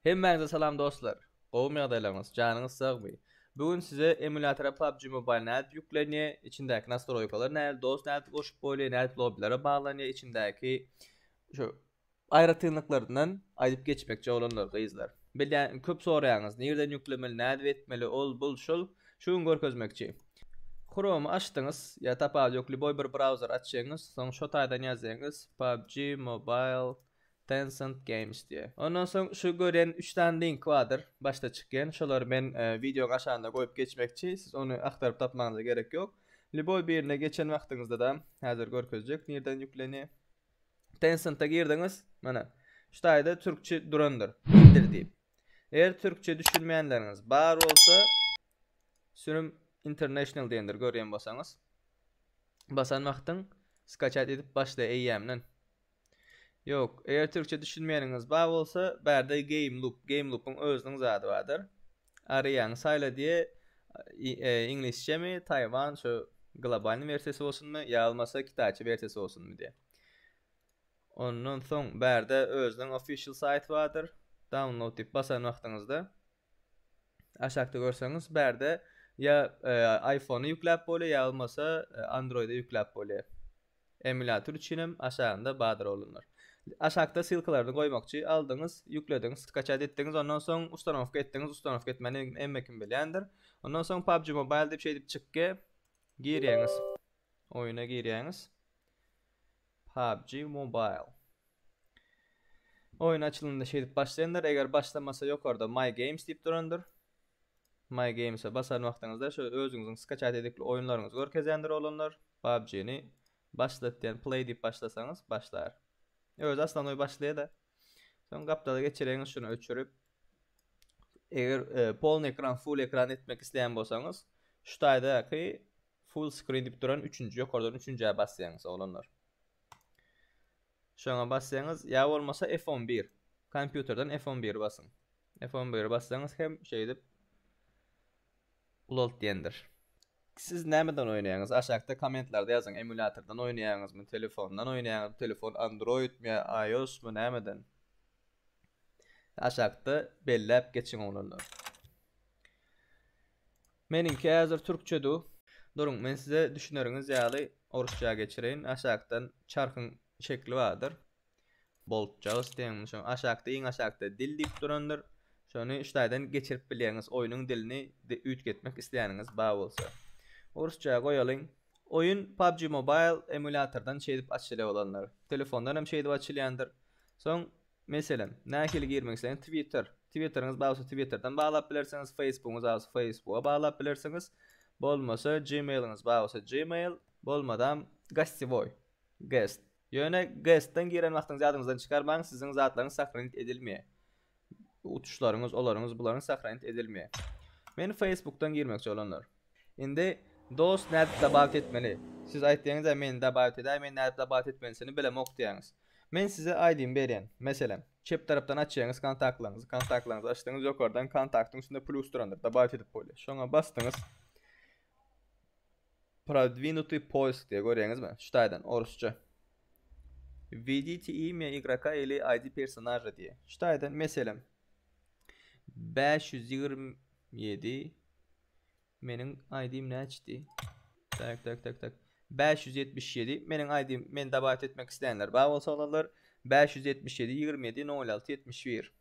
Hemmäňize salam dostlar. Gowumy ýagdaýlaryňyz? Janyňyz sagmy? Bu gün size emulýatora PUBG Mobile nädip ýüklenýär, içindäki nastroýkalar nädip, dost nädip goşup bolýar, nädip lobbilere baglanýar, içindäki şu Aýratynlyklaryndan aýdyp geçmekçi oglanlar gyzlar. Bilýän indi köp soraýaňyz nirden ýüklemeli nädip etmeli ol bul şul şu gün görkezmekçi. Chrome'y açdyňyz ýa tapawudy ýok lýuboý bir brauzeri açýaňyz soň şo taýdan ýazýaňyz PUBG mobile Tencent games diýe. Ondan soň şu görýän üç sany link bardyr başda çykýan şolary men wideoň aşagynda goýup geçmekçi siz ony agtaryp tapmagyňyza gerek ýok lýuboý birine geçen wagtyňyzda-da häzir görkezjek nirden ýüklenýä. Tencent-e girdiňiz, mana, şu taýda türkçe durandyr, Indir diýip. Eger türkçe düşünmeýänleriňiz bar bolsa, sürüm International diýendir, görýän bolsaňyz. Basan wagtyň skaçat edip başlaýar eýýämden. Ýok, eger türkçe düşünmeýäniňiz bar bolsa, bärde Game Loop, Game Loop-yň özüniň zady bardyr. Aryýaňy saýla diýe iňlisçemi taýwan şu globalny wersiýasy bolsunmy ýalmasa kitaýça wersiýasy bolsunmy diýe. Ondan soň bärde özüniň official saýty bardyr. Download diýip basan wagtyňyzda aşakda görseňiz bärde ýa iPhone-y ýükläp bolýa ýa bolmasa Android-y ýükläp bolýa. Emulýator üçinem aşagynda bardyr oglanlar. Aşakda ssylkalaryny goýmakçy, aldyňyz, ýüklediňiz, skaçat etdiňiz, ondan soň ustanowka etdiňiz, ustanowka etmäni hemme kim bilýändir. Ondan soň PUBG Mobile diýip şeýdip çykgy girýäňiz. Oýuna girýäňiz. PUBG Mobile. Oýun açylanda şeýdip başlaýandyr, eger başlamasa ýokarda My Games diýip durandyr. My Games-e basan wagtyňyzda şu özüňiziň skaçat edikli oýunlaryňyzy görkezýändir oglanlar. PUBG-ni başlat diýen play diýip başlasaňyz başlar. Özi aslanoý başlaýa-da. Soň gapdala geçireňiz şuny öçürip. Eger e, polny ekran, full ekran etmek isleýän bolsaňyz, şu taýdaky full screen diýip duran üçünji ýokardan üçünjä basýaňyz oglanlar. Şoňa basýaňyz ýa bolmasa F11. Kompýuterden F11 basyň. F11 bassaňyz hem şeýdip ulalt diýendir. Siz nämeden oýnaýaňyz? Aşakda kommentlarda ýazyň emulýatordan oýnaýaňyzmy, telefondan oýnaýaňyzmy, telefon androidmi ýa iosmy nämeden? Aşakda belläp geçiň oglanlar. Meniňki häzir türkçe du. Duruň men size düşüneriňiz ýaly orusça geçireýin. Aşakdan çarhyň şekli bardyr. Boltjagys deň şoň aşakda iň aşakda dil diýip durandyr şony ştaýdan geçirip bilýäňiz oýnuň dilini üýtgetmek isleýäniňiz bar bolsa. Orsça goýalyň. Oýun PUBG Mobile emulýatordan şeýdip açylýa bolanlar. Telefondan hem şeýdip açylýandyr. Soň meselem nähili girmek isleýäňiz Twitter Twitteriňiz bar bolsa Twitterden baglap bilersiňiz Facebookyňyz bar bolsa Facebooka baglap bilersiňiz bolmasa Gmailyňyz bar bolsa Gmail bolmadam Gostewoý Guest Ýöne GEST-den giren wagtyňyzy ýadyňyzdan çykarmaň, siziň zatlaryňyz sahranit edilmeýär. Uçuşlaryňyz, olaryňyz, bularyňyz sahranit edilmeýär. Men Facebook-dan girmekçi bolanlar. Indi dost nädip dabawt etmeli? Siz aýtdyňyz-a meni dabawt edäý, men nädip dabawt etmelisini bilemok diýýäňiz. Men size aýdym berýän. Meselem, çep tarapdan açýaňyz kontaktlaryňyzy, kontaktlaryňyzy açdyňyz, ýokardan kontaktyň üstünde plus durandyr, dabawt edip bolýar. Şoňa basdyňyz. Prodwinutý poisk diýýär, görýäňizmi? Şu taýdan, orusça. Wwedite imya igroka ili ID personaža diýýär. Şu taýdan, meselem, bäş ýüz ýigrimi ýedi, meniň ID-im näçedi? Tak, tak, tak, tak. Bäş ýüz ýetmiş ýedi, meniň ID-im, meni dabat etmek islänler bar bolsa, olarlar bäş ýüz ýetmiş ýedi, ýigrimi ýedi, nol alty, ýetmiş bir.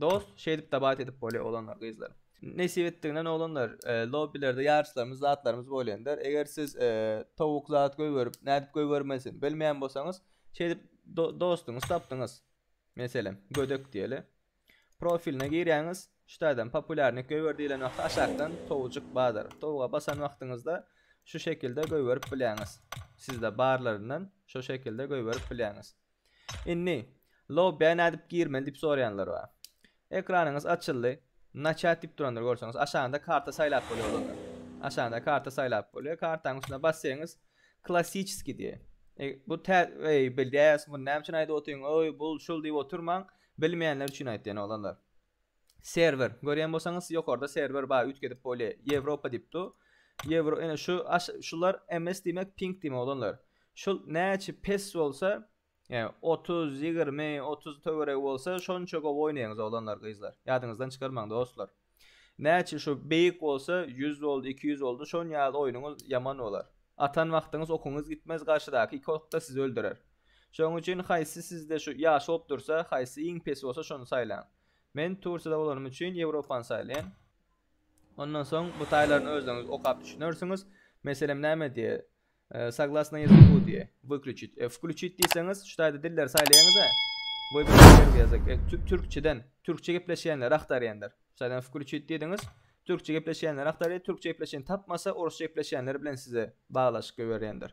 Dos şeýdip dabat edip bolýar oglanlar gyzlar. Nesip etdiginden oglanlar lobbilerde ýaryşlarymyz zatlarymyz bolýandyr eger siz towuk zat goýberip nädip goýbermelisin bilmeýän bolsaňyz şeýdip dostuňyz tapdyňyz meselem gödek diýeli profiline girýäňiz şu taýdan populýarnyk goýber diýilen wagty aşakdan towujyk bardyr towuga basan wagtyňyzda şu şekilde goýberip bilýäňiz sizde barlaryndan şo şekilde goýberip bilýäňiz Indi Lobby'e nädip girmeli diýip soraýanlar bar. Ekranyňyz açyldy. Naçat diýip durandyr görseňiz. Aşagynda karta saýlap bolýar olarda. Aşagynda karta saýlap bolýar. Kartanyň üstüne basseňiz Klassiçeskiý diýýär. E, bu tä eý bilýäs muny näme üçin aýdyp otyň oý bul şul diýip otyrmaň. Bilmeýänler üçin aýtýan oglanlar. Serwer. Görýän bolsaňyz ýokarda serwer bar üýtgedip bolýa. Ýewropa diýip dur. Ýewro ene şu aş şular MS diýmek ping diýmek oglanlar. Şul näçe pes bolsa ýa otuz ýigrimi otuz töweregi bolsa şonça gowy oýnaýaňyz oglanlar gyzlar. Ýadyňyzdan çykarmaň dostlar. Näçe şu beýik bolsa ýüz boldy iki ýüz boldy şon ýaly oýnuňyz ýaman bolar. Atan wagtyňyz okuňyz gitmez garşydaky iki okda sizi öldürer. Şonuň üçin haýsy sizde şu ýaş bolup dursa, haýsy iň pesi bolsa şony saýlaň. Men Tursiýada bolanym üçin Ýewropany saýlaýan. Ondan soň bu taýlaryny özleriňiz okap düşünersiňiz. Meselem näme diýýär? Saglasna ýezik bu diýýär. Wykluçit. E, wkluçit diýseňiz, şu taýda dilleri saýlaýaňyz-a. Wybr perwi ýazyk. E, türkçeden, türkçe gepleşýänleri agtarýandyr. Şu taýdan wkluçit diýdiňiz, türkçe gepleşýänleri agtarýar, türkçe gepleşýän tapmasa, orusça gepleşýänler bilen size baglaşyk goýberýändir.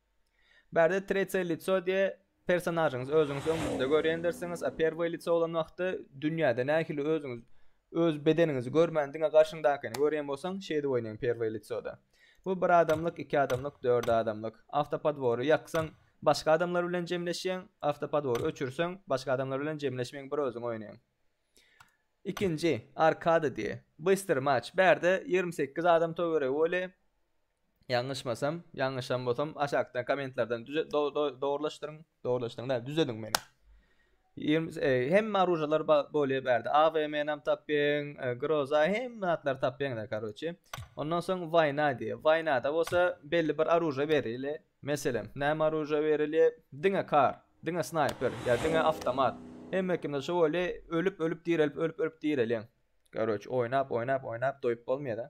Bärde Tretsýe lico diýe personažyňyz özüňiz öňüňizde görýändirsiňiz, a Perwýe lico bolan wagty dünýäde nähili özüňiz öz bedeniňizi görmän diňe garşyňdakyny görýän bolsaň şeýdip oýnaň Perwýe licoda. Bu bir adamlyk, iki adamlyk, dört adamlyk. Awtopodwory ýaksaň başga adamlar bilen jemleşýäň, awtopodwory öçürseň başga adamlar bilen jemleşmeýäň bir özüň oýnaýaň. Ikinji Arkada diýe. Bystry maç. Bärde ýigrimi sekiz adam töweregi boli. Ýalňyşmasam, ýalňyşan bolsam aşakda kommentlerden düze do do dogrulaşdyryň, dogrulaşdyryň däl, düzediň meni. Ýigrimi e, hemme oružalar ba- bolýa bärde. AVM-nam tapýaň, e, groza, hemme zatlary tapýaňda, karoçi. Ondan soň waýna diýýär. Waýnada bolsa belli bir oruža berile. Meselem, näme oruža berilýär? Diňe kar, diňe snaýper, ýa diňe awtomat. Hemme kimde şo bolýa, ölüp-ölüp direlip, ölüp-ölüp direlýäň. Karoçi, oýnap, oýnap, oýnap doýup bolmaýa-da.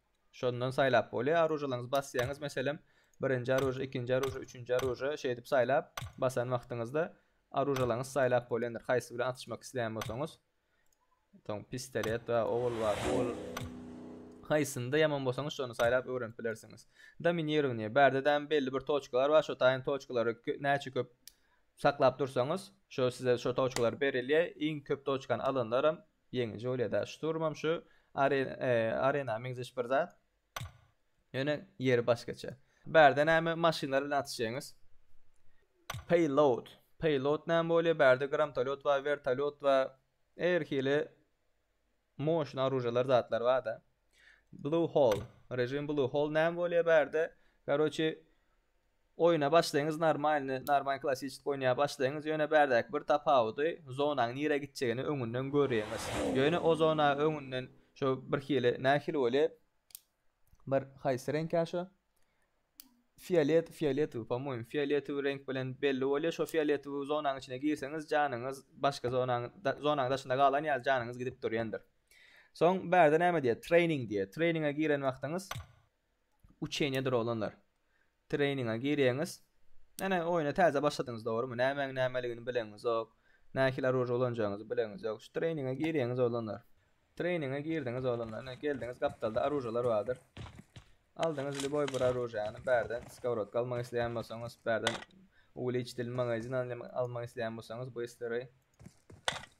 Şondan saýlap bolýar. Aružalaryňyzy basýaňyz, meselem, birinji aruža, ikinji aruža, üçünji aruža şeýdip saýlap basan wagtyňyzda aružalaryňyzy saýlap bolýandyr. Haýsy bilen atyşmak isleýän bolsaňyz. Soň pistolet we ogul bar. Ogul haýsynda ýaman bolsaňyz şony saýlap öwrenip bilersiňiz. Dominirowniýe. Bärde däl belli bir toçkalar bar. Şo taýyn toçkalary näçe köp saklap dursaňyz, şo size şo toçkalar berilýär. Iň köp toçkany alanlaram Ýeňiji bolýada. Şturmam şu Arena meňzeş bir zat. Ýöne ýeri başgaça. Bärde näme maşynlar bilen atyşýaňyz. Payload. Payload näme bolýa? Bärde gramtolýot bar, wertolýot bar. Her hili moşna oružalar zatlar barda. Blue hole. Rejim blue hole näme bolýa bärde? Garoçi Oýuna başlaýyňyz normalny normal klassyçyt oýnaýa başlaýyňyz ýöne bärdäki bir tapawudy zonaň nirä gitjegini öňünden görýäňiz ýöne o zona öňünden şo birhili nähili bolýa bir haýsy reňkä şo fiolet fioletowy po moým fioletowy reňk bilen belli bolýa şo fioletowy zonaň içine girseňiz janyňyz başga zonaň zonaň daşynda galan ýaly janyňyz gidip durýandyr soň bärde näme diýýä treýning diýýä treýninge giren wagtyňyz Uçeniýedir oglanlar. Treýninga girýäňiz. Ýöne oýna täze başladyňyz dogrymy? Nämäň nämeligini bileňizok. Nähili oruža ulanjagyňyzy bileňizok. Şu treýninga girýäňiz oglanlar. Treýninga girdiňiz oglanlar. Ine geldiňiz gapdalda oružalar bardyr. Aldyňyz lýuboý bir oružany bärden skowrodka almak isleýän bolsaňyz bärden uwiliçitil magazin almak isleýän bolsaňyz bu isleri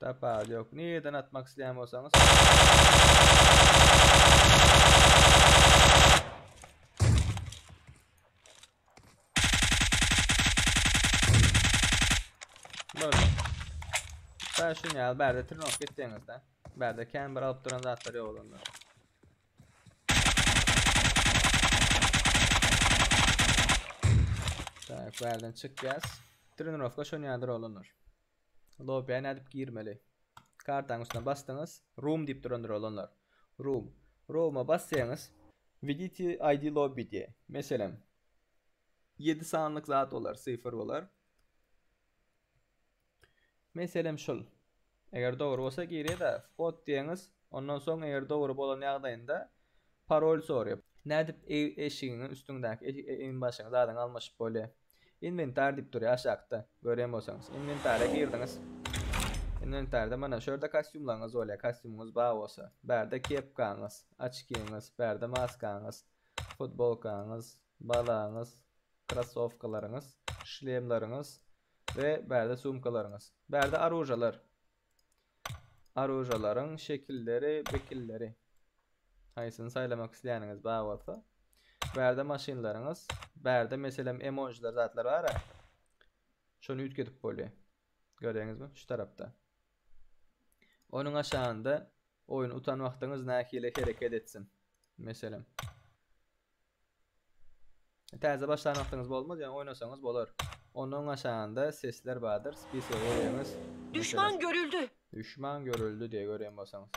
Tapar yok. Nireden atmak isteyen bolsanız. Böyle. Sen şunu ya. Berde tırnak gittiğinizde. Berde kendi bir alıp duran zatları yok olanlar. Tak, bärden çykýas. Trenirowka şonýadyr oglanlar. Lobiýa nädip girmeli? Kartaň üstüne basdyňyz. Room diýip durandyr oglanlar. Room. Rooma basýaňyz. Widiti ID lobby diýe. Meselem. 7 sanlyk zat bolar, sifr bolar. Meselem şul. Eger dogry bolsa girýärda whot diýýäňiz, ondan soň eger dogry bolan ýagdaýynda parol sorýar. Nädip eşigiňiň üstüňdäki egin-başyňy zadyňy almaşyp bolýar? Inwentar diýip durýar aşakda, görýän bolsaňyz. Inwentara girdiňiz. Inwentarda mana şu ýerde kostýumlaryňyz bolýar, kostýumyňyz bar bolsa. Bärde kepkaňyz, oçkiňiz, bärde maskaňyz, futbolkaňyz, balaňyz, krossowkalaryňyz, şlemleriňiz, we bärde sumkalaryňyz. Bärde arujalar. Arujalaryň şekilleri, bekilleri. Haýsyny saýlamak isleýäniňiz bar bolsa. Bärde maşynlaryňyz. Bärde meselem emojiler zatlar bar. Şony üýtgedip bolýar. Gördüňizmi? Şu tarapda. Onuň aşagynda oýun utan wagtyňyz nähili hereket etsin. Meselem. Täze başlan wagtyňyz bolmaz, ýöne oýnasaňyz bolar. Ondan aşagynda sesler bardyr, spiske gireňiz. Düşman görüldi. Düşman görüldi diye gören bolsaňyz.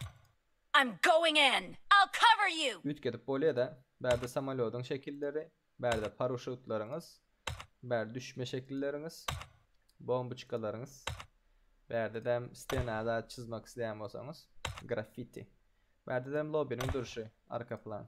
I'm going in. I'll cover you. Üýtgedip bolýar-da. Bärde samolýodyň şekilleri, bärde paruşutlaryňyz, bär düşme şekilleriňiz, bomboçkalaryňyz. Bärdedem stena zat çyzmak isleýän bolsaňyz, graffiti. Bärdedem lobiniň durşy, arka plan.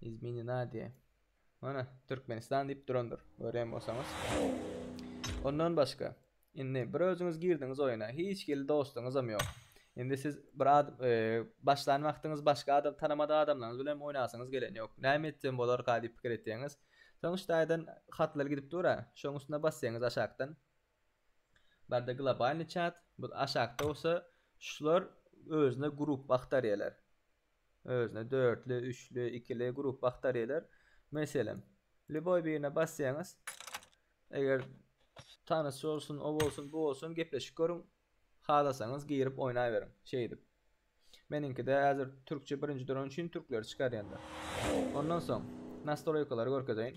Izmini nadie. Mana, Türkmenistan diýip durandyr, görýän bolsaňyz. Ondan başga, indi bir özüňiz girdiňiz oýuna, hiç hili dostuňyzam ýok. Indi siz bir ad, e, başlan wagtyňyz başga adam tanamadyk adamlaryňyz bilen hem oýnasyňyz gelen ýok. Näme etsem bolarka diýip pikir etýäňiz. Soň şu taýdan hatlar gidip dur-a, şoň üstüne basýaňyz aşakdan. Barda globalny çat, bu aşakda bolsa şular özüne gruppa agtarýarlar. Özüne dörtli, üçli, ikili, grup bakteriýalar. Meselem, lýuboý birine basýaňyz, eger tanyş bolsun, o bolsun, bu bolsun, gepleşip görüň, halasaňyz girip oýnaberiň, şeýdip. Meniňkide häzir türkçe birinji duran üçin türkleri çykarýan-da. Ondan soň, nastroýkalary görkezeýin.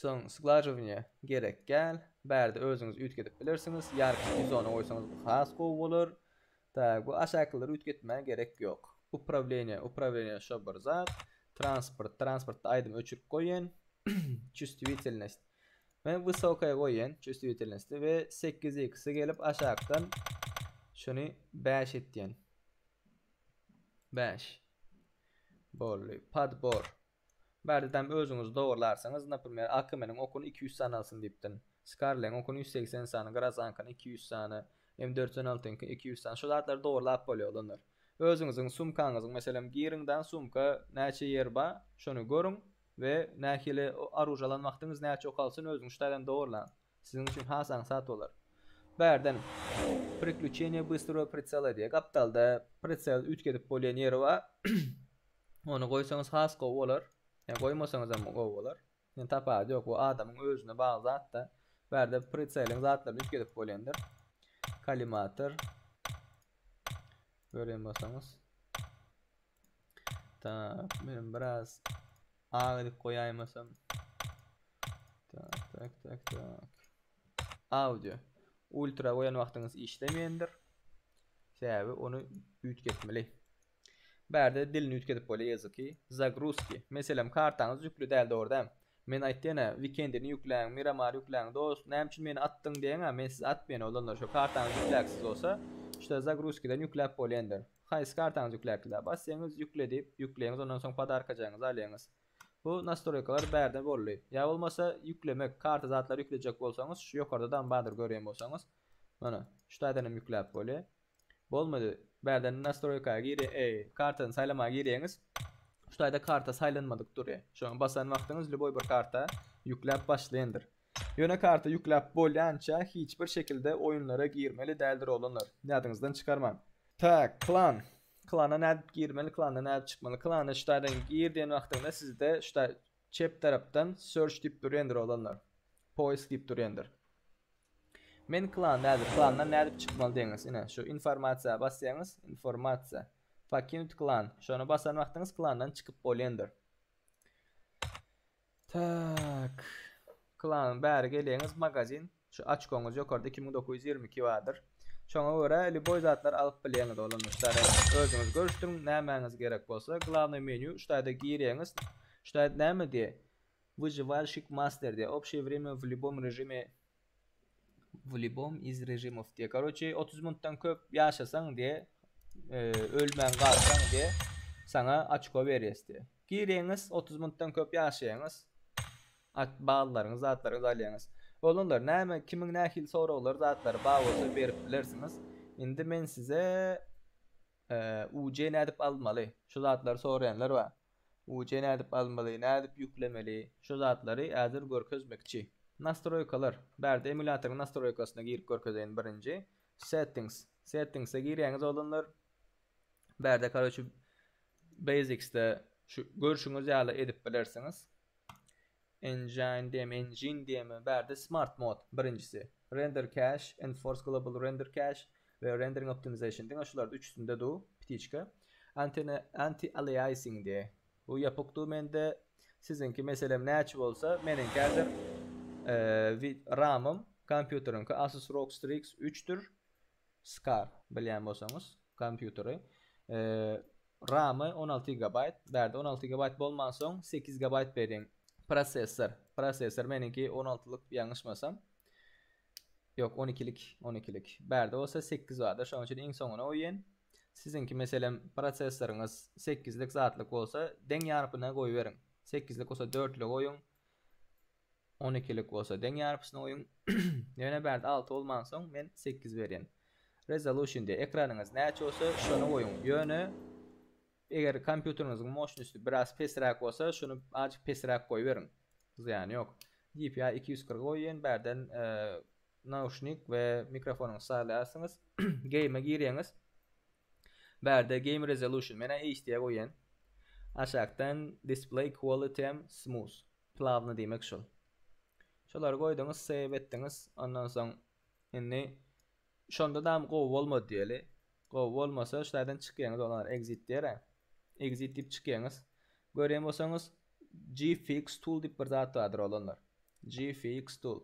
Soň sglajowaniýa gerek gäl. Bärde özüňiz üýtgedip bilersiňiz. Ýarpyş izony goýsaňyz has gowy bolar. Tak, bu aşakylary üýtgetmä gerek ýok. Uprawleniýe, uprawleniýe şo bir zat. Transport, transportda aýdymy öçürip goýen. Çustiwitelnost. Men wysokaýa goýen çustiwitelnosti we sekiz ikisi gelip aşakdan şuny bäş etýän. Bäş. Boldy. Padbor. Bärde-däm özüňiz dogrularsyňyz, naprimer, Akemeniň okuny iki ýüz sany alsyn diýipdin. Skarleň okuny ýüz segsen sany, Grazaňkyny iki ýüz sany, M dört ýüz on altyňky iki ýüz sany, şu zatlary dogurlap bolýa, olanlar. Özüňiziň sumkaňyzyň, meselem, giriňdaň sumka näçe ýer ba, şony görüň we nähili oruža alan wagtyňyz näçe ok alsyn özüňiz şu taýdan dogurlaň. Siziň üçin has aňsat bolar. Bärden Priklüçeniýe bystrýo pritsela diýýä. Gapdalda pritsel üýtgedip bolýan ýeri ba. Ony goýsaňyz has gowy bolar. Ýa goýmasaňyzam gowy bolar. Ýöne tapawudy ýok. Bu adamyň özüne bagly zat-da. Bärde pritseliň zatlaryny üýtgedip bolýandyr. Kolimator. Görýän bolsaňyz. Tak, men biraz agy edip goýaýmasam. Tak, tak, tak, tak. Audio. Ultra goýan wagtyňyz işlemeýändir. Sebäbi ony üýtgetmeli. Bärde dilini üýtgedip bolýar ýazyky. Zagruzki. Meselem kartaňyz ýükli däl dogry däl. Men aýtdyýenä wikendini ýükläň, miramar ýükläň dos näme üçin meni atdyň diýeňä men sizi atmaýan oglanlar şo kartaňyz ýükläksiz bolsa şda zagruzkiden ýükläp bolýandyr. Haýsy kartaňyz ýükläpdilä basýaňyz ýükle diýip ýükleýiňiz ondan soň podarkajaňyzy alýaňyz. Bu nastroýkalar bärde boldy. Ýa bolmasa ýüklemek karta zatlary ýüklejek bolsaňyz şu ýokarda dam bardyr görýän bolsaňyz. Mana şdaýdanam ýükläp bolýar. Bolmady. Bärden nastroýka gir eý kartany saýlamaga girýäňiz. Şu taýda karta saýlanmadyk durýa. Şoňa basan wagtyňyz lýuboý bir karta ýükläp başlaýyndyr. Ýöne karta ýükläp bolýança hiç bir şekilde oýunlara girmeli däldir oglanlar. Ýadyňyzdan çykarmaň. Tak, klan. Klana nädip girmeli, klandan nädip çykmaly. Klana şu taýdan gir diýen wagtyňda sizde şu taý çep tarapdan search diýip durýandyr oglanlar. Poýsk diýip durýandyr. Men klan nädip klandan nädip çykmaly deňiz ine şu informasiýa basýaňyz informasiýa pokinut klan şony basan wagtyňyz klandan çykyp bolýandyr tak klan bäri gelýäňiz magazin şu açkoňyz ýokarda iki müň dokuz ýüz ýigrimi iki bardyr şoňa görä liboý zatlar alyp bilýäňiz oglum ştaýda özüňiz görüşdüriň nämäňiz gerek bolsa glawnoý menýu ştaýda girýäňiz ştaýda näme diýýä Wyžywalşik master diýýär. Obşeý wremýa w lýubom režime w lýubom iz režimow diýýär. Karoçe, otuz minutdan köp ýaşasaň diýýär, ölmän galsaň diýýär, saňa açko berýäs diýýär. Girýäňiz, otuz minutdan köp ýaşaýaňyz, ballaryňyz, zatlaryňyzy alýaňyz. Olanlar, näme, kimiň nähili soraglary, zatlary bar bolsa berip bilersiňiz. Indi men size. UC nädip almaly? Şu zatlary soraýanlar bar. UC nädip almaly, nädip ýüklemeli? Şu zatlary häzir görkezmekçi. Nastroýkalar, bärde emulýatoryň nastroýkasyna girip görkezeýin birinji. Settings, settingse girýäňiz oglanlar. Bärde karoçi basicsde şu görşüňiz ýaly edip bilersiňiz. Engine diýem, engine diýemmi? Bärde Smart Mode, birinjisi. Render Cache, Enforce Global Render Cache we Rendering Optimization diňe şulardy, üçüsinde du, ptiçka. Antene, Anti-Aliasing diýe. Bu ýapyk du mende. Siziňki meselem näçe bolsa, meniňki häzir eee, wi, RAM-ym, kompýuteriňki Asus ROG Strix üçdür. Skar bilýän bolsaňyz kompýuteri Ramy on alty gigabaýt bärde on alty gigabaýt bolmansoň sekiz gigabaýt beriň prosessor prosessor meniňki on altylyk ýalňyşmasam ýok on ikilik on ikilik bärde bolsa sekiz barda şonuň üçin iň soňuna goýýan siziňki meselem prosessoryňyz sekizlik zatlyk bolsa deň ýarpyna goýberiň sekizlik bolsa dörtlüge goýuň On ikilik bolsa deň ýarpyşyny goýuň. Ýöne bärde alty bolmansoň men sekiz berýän. Resolution diýýär. Ekranyňyz näçe bolsa şony goýuň. Ýöne eger kompýuteriňiziň moşnosty biraz pesräk bolsa şuny azjyk pesräk goýberiň. Zyýany ýok. DPI iki ýüz kyrk goýýan bärden nauşnik we mikrofonyňyzy saýlaýarsyňyz. Game-e girýäňiz. Bärde game resolution menä HD-e goýýan. Aşakdan display quality'm smooth. Plawny diýmek şol. Şolary goýduňyz, save etdiňiz. Ondan soň indi şonda dam gowy bolmady diýeli. Gowy bolmasa şu taýdan çykýaňyz olar exit diýer-ä. Exit diýip çykýaňyz. Görýän bolsaňyz gfx tool diýip bir zat bardyr oglanlar. Gfx tool.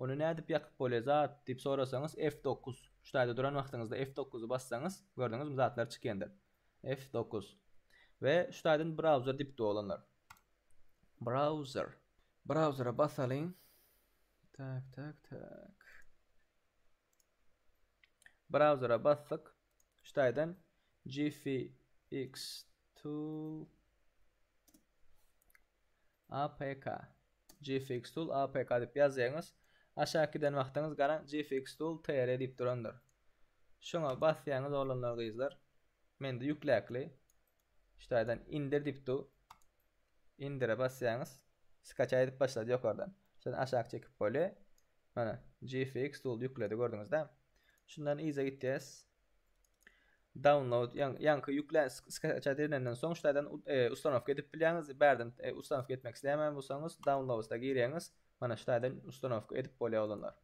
Ony nädip ýakyp bolýar zat diýip sorasaňyz F9. Şu taýda duran wagtyňyzda F9-y bassaňyz gördüňizmi zatlar çykýandyr. F9. We şu taýdan browser diýipdi oglanlar. Browser. Browsere basalyň. Tak, tak, tak. Browsere basdyk. Şu taýdan GFX tool APK. GFX tool APK diýip ýazýaňyz. Aşak giden wagtyňyz garaň GFX tool TR diýip durandyr. Şoňa basýaňyz oglanlar gyzlar. Mende ýükläkli. Ştaýdan indir diýip dur. Indire basýaňyz. Skaçaý edip başlady ýokardan. Şondan aşak çekip bolýar. Mana, GFX tool ýükledi gördüňizdä. Şundan yza gitýäs. Download ýaňky ýüklen skaçaý edilenden soň ştaýdan ustanowka edip bilýäňiz. Bärden ustanowka etmek isleýän bolsaňyz downloads-a girýäňiz. Mana ştaýdan ustanowka edip bolýar oglanlar.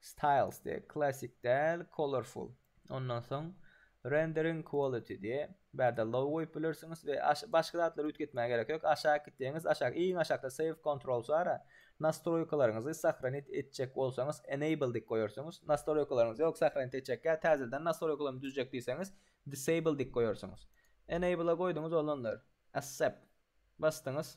Styles diýe, Classic däl, Colorful. Ondan soň Rendering Quality diýe, bärde Low goýup bilersiňiz we başga zatlary üýtgetmäge gerek ýok. Aşak gitseňiz, aşak, iň aşakda Save Controls bar-a, Nastroýkalaryňyzy sahranit etjek bolsaňyz Enable dik goýarsyňyz. Nastroýkalaryňyzy ýok, sahranit etjek ýa täzeden nastroýkalarymy düzjek diýseňiz Disable dik goýarsyňyz. Enable-a goýduňyz olanlar. Accept basdyňyz.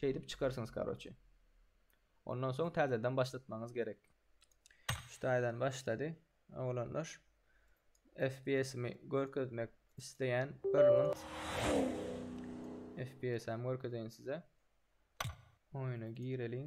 Şeýdip çykarsyňyz karoçi. Ondan soň täzeden başlatmaňyz gerek. Şu taýdan başlady. Oglanlar FPS-imi görkezmek isleýän bir mint. FPS-äm görkezeýin size. Oýna gireliň.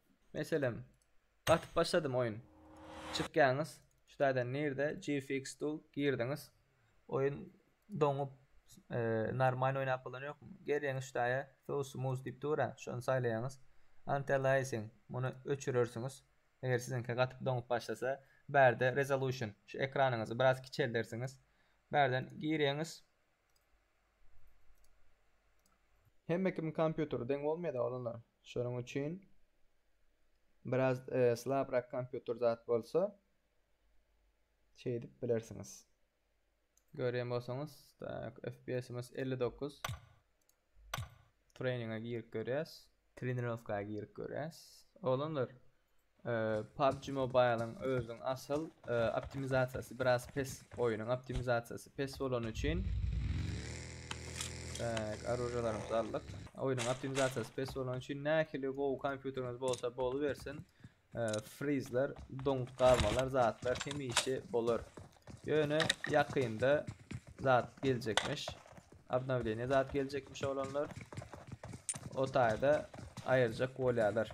Meselem. Gatyp başladym oýun. Çykýaňyz. Şu taýdan nirde GFX tool girdiňiz. Oýun doňup normal oýnap bolany ýokmy. Gelýäňiz şu taýa so smooth diýip dura şony saýlaýaňyz. Antialiasing muny öçürersiňiz. Eger siziňki gatyp doňup başlasa bärde resolution şu ekranyňyzy biraz kiçeldersiňiz. Bärden girýäňiz. Hemme kimiň kompýuteri deň bolmaýada oglanlar. Şonuň üçin biraz slabrak kompýuter zat bolsa şeýdip bilersiňiz. Görýän bolsaňyz, tak, FPS-imiz 59. Treninge girip görýäs. Trenirowka girip görýäs. Oglanlar, PUBG Mobile-yň özüniň asyl optimizasiýasy biraz pes, oýunyň optimizasiýasy pes bolany üçin Tak, arujalarymyzy aldyk. Oýunyň optimizasiýasy pes bolany üçin nähili gowy kompýuteriňiz bolsa bolubersin, frizler, doňup galmalar, zatlar hemişe bolar. Ýöne ýakynda zat geljekmiş. Obnowleniýe zat geljekmiş oglanlar. O taýda aýyrjak bolýarlar.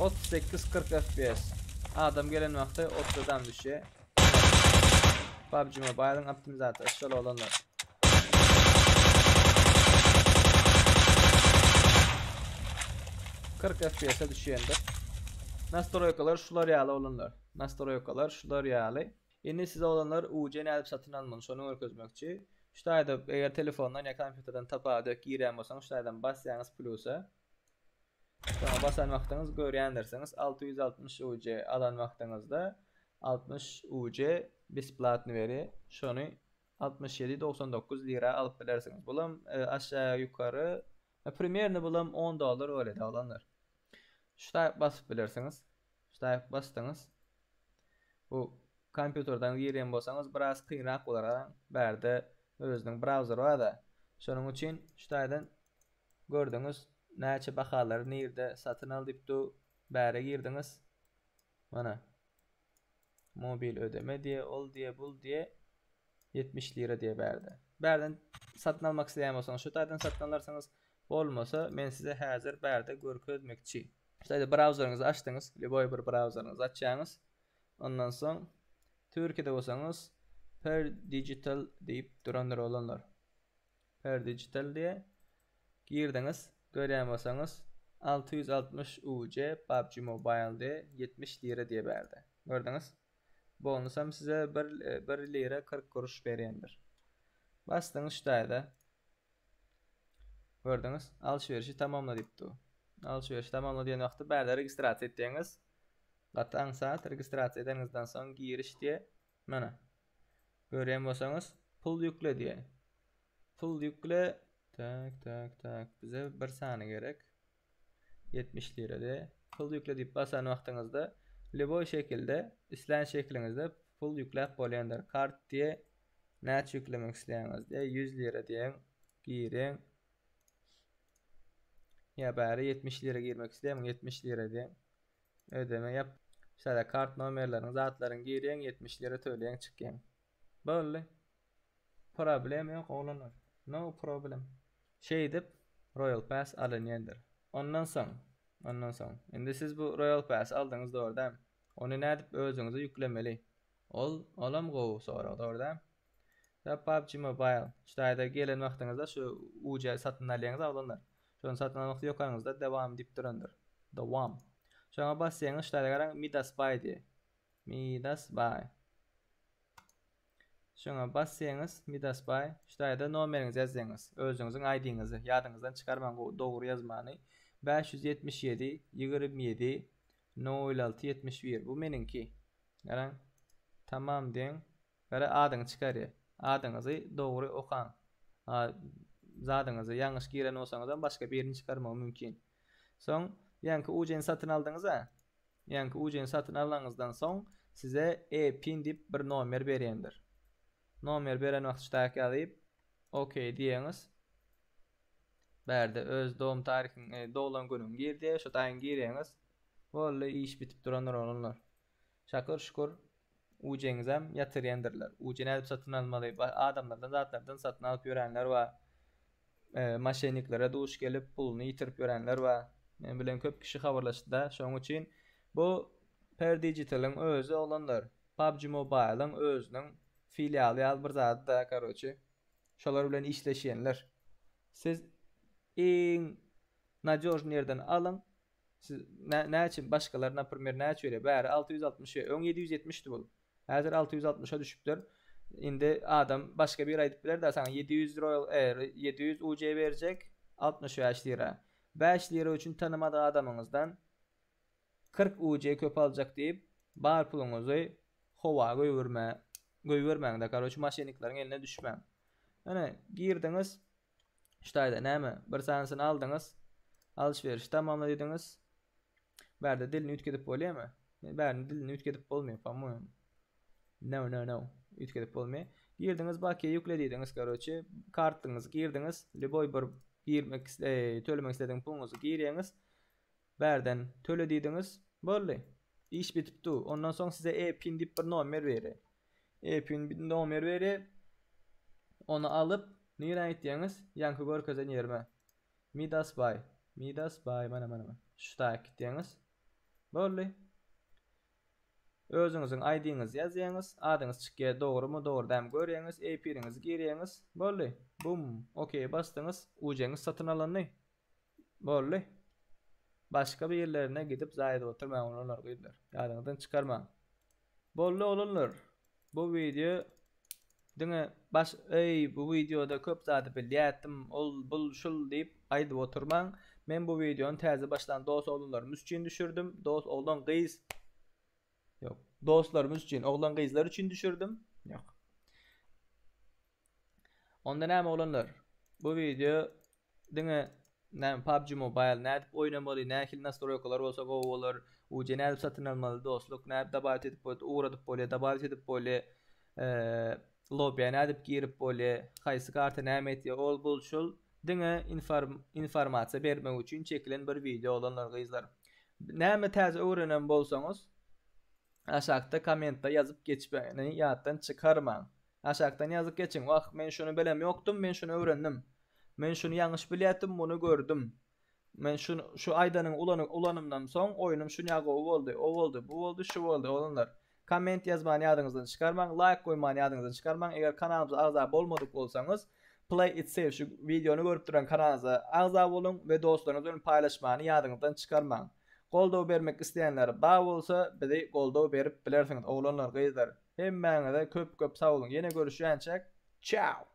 Otuz sekiz kyrk fps adam gelen wagty otuz adam düşýä PUBG Mobile'yň optimizatory şol oglanlar. Kyrk FPS-e düşýändir. Nastroýkalar şular ýaly oglanlar. Nastroýkalar şular ýaly. Indi siz oglanlar uc nädip satyn almaly şony görkezmekçi. Şu taýda eger telefondan ýa kompýuterden tapa dök girýän bolsaňyz şu taýdan basýaňyz plusa. Şoňa basan wagtyňyz görýändirsiňiz alty ýüz altmyş uc alan wagtyňyzda altmyş uc besplatny berýär. Şony altmyş ýedi dogsan dokuz lira alyp bilersiňiz. Bulam aşa ýokary primerno bulam on dollar bolýar oglanlar. Şu taýyp basyp bilersiňiz. Şu taýyp basdyňyz. Bu kompýuterden girýän bolsaňyz biraz kynrak bolar garaň bärde özüniň browser barda şonuň üçin şu taýdan gördüňiz näçe bahalary nirde satyn al diýip dur bäre girdiňiz mana mobil ödeme diýe ol diýe bul diýe ýetmiş lira diýe bärde bärden satyn almak isleýän bolsaňyz şu taýdan satyn alarsyňyz bolmasa men size häzir bärde görkezmekçi. Şeýle brauzeriňizi açdyňyz, lýuboý bir brauzeriňizi açýaňyz. Ondan soň Türkiýede bolsaňyz Per Digital diýip durandyr oglanlar. Per Digital diýe girdiňiz, görýän bolsaňyz 660 UC PUBG Mobile diýe 70 lira diýe bärde. Gördüňiz? Bonusam size bir bir lira 40 kuruş berýändir. Basdyňyz şu taýda. Gördüňiz, alşyberişi tamamla diýipdi. Alşyberişi tamamla diýen wagty bärde registrasiýa etýäňiz. Gaty aňsat registrasiýa edeniňizden soň giriş diýe. Mana. Görýän bolsaňyz, pul ýükle diýe. Pul ýükle. Tak, tak, tak. Bize bir sany gerek. Ýetmiş lirada pul ýükle diýip basan wagtyňyzda lýuboý şekilde islän şekiliňizde pul ýükläp bolýandyr. Kart diýe näçe ýüklemek isleýäňiz diýe ýüz lira diýeň giriň. Ýa bäri ýetmiş lira girmek isleýämiň ýetmiş lira diýeň. Ödeme ýap. Şeýle kart nomerleriň zatlaryň giriň ýetmiş lira töleýäň çykýaň. Boldy. Problem ýok oglanlar. No problem. Şeýdip Royal Pass alynýandyr. Ondan soň, ondan soň. Indi siz bu Royal Pass-y aldyňyz dogry dämi? Ony nädip özüňize ýüklemeli? Ol, olam gowy sorag dogry dämi? Ýa PUBG Mobile, şu taýda gelen wagtyňyzda şu uja satyn alýaňyz oglanlar. Şony satyn almak ýokaňyzda dawam diýip durandyr. Dowam. Şoňa basýaňyz şu taýda garaň Midas Buy diýýär. Midas Buy. Şoňa basseňiz Midas baý ştaýda nomeriňizi ýazseňiz özüňiziň aýdyňyzy ýadyňyzdan çykarmaň gowy dogry ýazmany bäş ýüz ýetmiş ýedi ýigrimi ýedi nol alty ýetmiş bir bu meniňki garaň tamam deň gara adyňy çykarýa adyňyzy dogry okaň a zadyňyzy ýalňyş giren bolsaňyzam başga birini çykarmagy mümkin. Soň ýaňky uceni satyn aldyňyz-a? Ýaňky uceni satyn alanyňyzdan soň size e-pin diýip bir nomer berýändir. Nomer beren wagt ştaýk ýazyp, OK diýýäňiz. Bärde öz dogum taryhyňy, doglan günüňi gir diýýär, şo taýyňy girýäňiz. Boldy, iş bitip durandyr oglanlar. Şakyr şükür uceňizem ýatyr ýendirler uje nädip satyn almaly adamlardan zatlardan satyn alyp ýörenler bar maşenniklere duş gelip puluny ýitirip ýörenler bar men bilen köp kişi habarlaşdyda şoň üçin bu per digitalyň özi oglanlar pubg mobile'yň özüniň filialy ýaly bir zadyda karoçi şolar bilen işleşýenler siz iň nadýožny ýerden alyň Siz nä näçe başgalar naprmer näçe ýöre bäri alty ýüz altmyş ýöre öň ýedi ýüz ýetmişdi bul häzir alty ýüz altmyşa düşüpdir indi adam başga biri aýdyp bilerda saňa ýedi ýüz roýal air ýedi ýüz uc berjek altmyş bäş lira bäş lira üçin tanymadyk adamyňyzdan kyrk uc köp aljak diýip bar puluňyzy howa göwürme göýbermäňde karoç maşennikleriň eline düşmäň ine girdiňiz Şutaýda näme? Bir sanysyny aldyňyz. Alyş-berişi tamamla diýdiňiz. Bärde dilini üýtgedip bolýamy? Bärini dilini üýtgedip bolmaýar, pa-moýam. No, no, no. Üýtgedip bolmaýar. Girdiňiz, bakiýa ýükle diýdiňiz, karoçi. Kartyňyzy girdiňiz. Lýuboý bir girmek isle-, eý, tölemek isledigiňiz puluňyzy girýäňiz. Bärden töle diýdiňiz, boldy. Iş bitip dur. Ondan soň size E-pin diýip bir nomer berer. E-pin nomer berer. Ony alyp, nirä gitýäňiz? Ýaňky görkezen ýerime. Midas baý. Midas baý, mana, mana, mana. Şu taýak gitýäňiz. Boldy. Özüňiziň ID-ňizi ýazýaňyz. Adyňyz çykýar, dogrumy, dogry dämi görýäňiz. E-piniňizi girýäňiz. Boldy. Bum. Okeýe basdyňyz. Ujeňiz satyn alandy. Boldy. Başga bir ýerlerine gidip zaý edip oturmaň oglanlar, gyzlar. Ýadyňyzdan çykarmaň. Boldy oglanlar. Bu wideo diňe baş eý bu wideoda köp zady bilýätdim, ol bul şul diýip aýdyp oturmaň. Men bu wideony täze başlan dost oglanlarymyz üçin düşürdim. Dost oglan gyz Ýok. Dostlarymyz üçin, oglan gyzlar üçin düşürdim. Ýok. Onda näme oglanlar? Bu wideo Diňe näme PUBG Mobile nädip oýnamaly nähili nastroýkalar bolsa gowy bolar UC nädip satyn almaly dostluk nädip dabawit edip bot ugradyp bolýa dabawit edip bolýa lobiýa nädip girip bolýa haýsy karta näme etýä ol bul şul diňe infarm informasiýa bermek üçin çekilen bir wideo oglanlar gyzlar näme täze öwrenen bolsaňyz aşakda kommentda ýazyp geçmegini ýatdan çykarmaň Aşakdan ýazyp geçiň. Wah, men şuny belem ýokdum, men şuny öwrendim. Men şuny ýalňyş bilýätdim, muny gördüm. Men şu şu aýdanyny ulanyp ulanymdan soň oýnum şunýa gowy boldy, o boldy, bu boldy, şu boldy, oglanlar. Komment ýazmany ýadyňyzdan çykarmaň, laýk goýmany ýadyňyzdan çykarmaň, eger kanalymyza agza bolmadyk bolsaňyz, Play it safe şu wideony görüp duran kanalymyza agza boluň we dostlaryňyz bilen paýlaşmany ýadyňyzdan çykarmaň. Goldaw bermek isleýänler bar bolsa, bizi goldaw berip bilersiňiz, oglanlar, gyzlar. Hemmäňize köp köp sag boluň ýene görüşýänçäk Ciao.